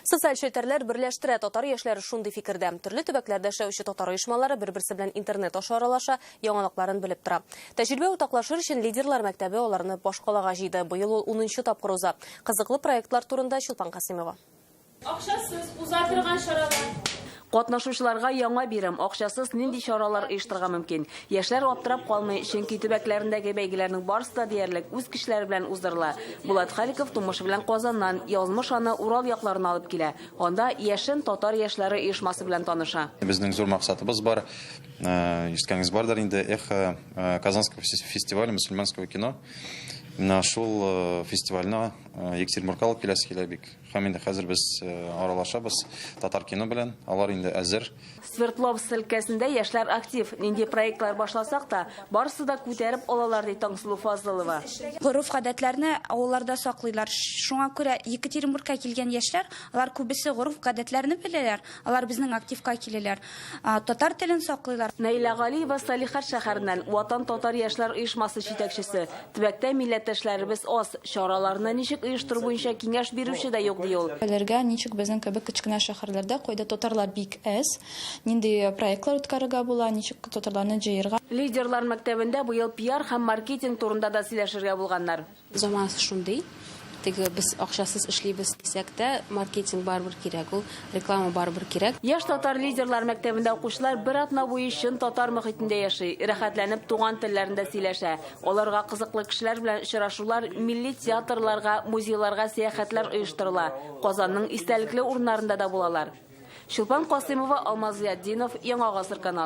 Социаль челтәрләр берләштерә, татар яшьләре шундый фикердә. Төрле төбәкләрдә эшләүче татар оешмалары бер-берсе белән интернет аша аралаша, яңалыкларын белеп тора. Тәҗрибә уртаклашыр өчен Лидерлар мәктәбе аларны башкалага җыйды. Быел ул унынчы тапкыр уза. Кызыклы проектлар турында Чулпан Касыймова. Акчасыз уза торган чаралар. Катнашучыларга яңа бирем акчасыз нинди чаралар оештырырга мөмкин? Яшьләр аптырап калмый, чөнки төбәкләрендәге бәйгеләрнең барысы да диярлек үз кешеләре белән уздырыла. Булат Халиков тумышы белән Казаннан, язмыш аны Урал якларына алып килә. Анда Яшен татар яшьләре оешмасы белән таныша. Безнең зур максатыбыз бар. Ишеткәнегез бардыр инде, Эхо Казанского фестиваля мөселманского кино. Менә шул фестивальне Екатеринбургка алып киләсе килә бик. Һәм инде хәзер без э, аралашабыз татар кино белән. Алар инде әзер. Свердловск өлкәсендә яшьләр актив. Нинди проектлар башласак та, барысы да күтәреп алалар, ди Таңсылу Фазылова. Гореф-гадәтләрне авылларда саклыйлар. Шуңа күрә Екатеринбургка килгән яшьләр, алар күбесе гореф-гадәтләрне беләләр. Алар безнең активка киләләр, татар телен саклыйлар. Наилә Галиева Салихард шәһәреннән, Ватан татар яшьләр оешмасы җитәкчесе. Төбәктә милләттәшләребез аз, чараларны ничек оештыру буенча киңәш бирүче дә юк, ди ул. Белергә, ничек безнең кебек кечкенә шәһәрләрдә, кайда татарлар бик әз, нинди проектлар үткәрергә була, ничек татарларны җыерга. Лидерлар мәктәбендә быел пиар һәм маркетинг турында да сөйләшергә булганнар. Заманасы шундый, теге без акчасыз эшлибез дисәк тә, маркетинг барыбер кирәк ул, реклама барыбер кирәк. Яшь татар лидерлар мәктәбендә укучылар бер атна буе чын татар мохитендә яши, рәхәтләнеп туган телләрендә сөйләшә. Аларга кызыклы кешеләр белән очрашулар, милли театрларга, музейларга сәяхәтләр оештырыла, Казанның истәлекле урыннарында да булалар. Чулпан Касыймова, Алмаз Зыятдинов, Яңа гасыр каналы.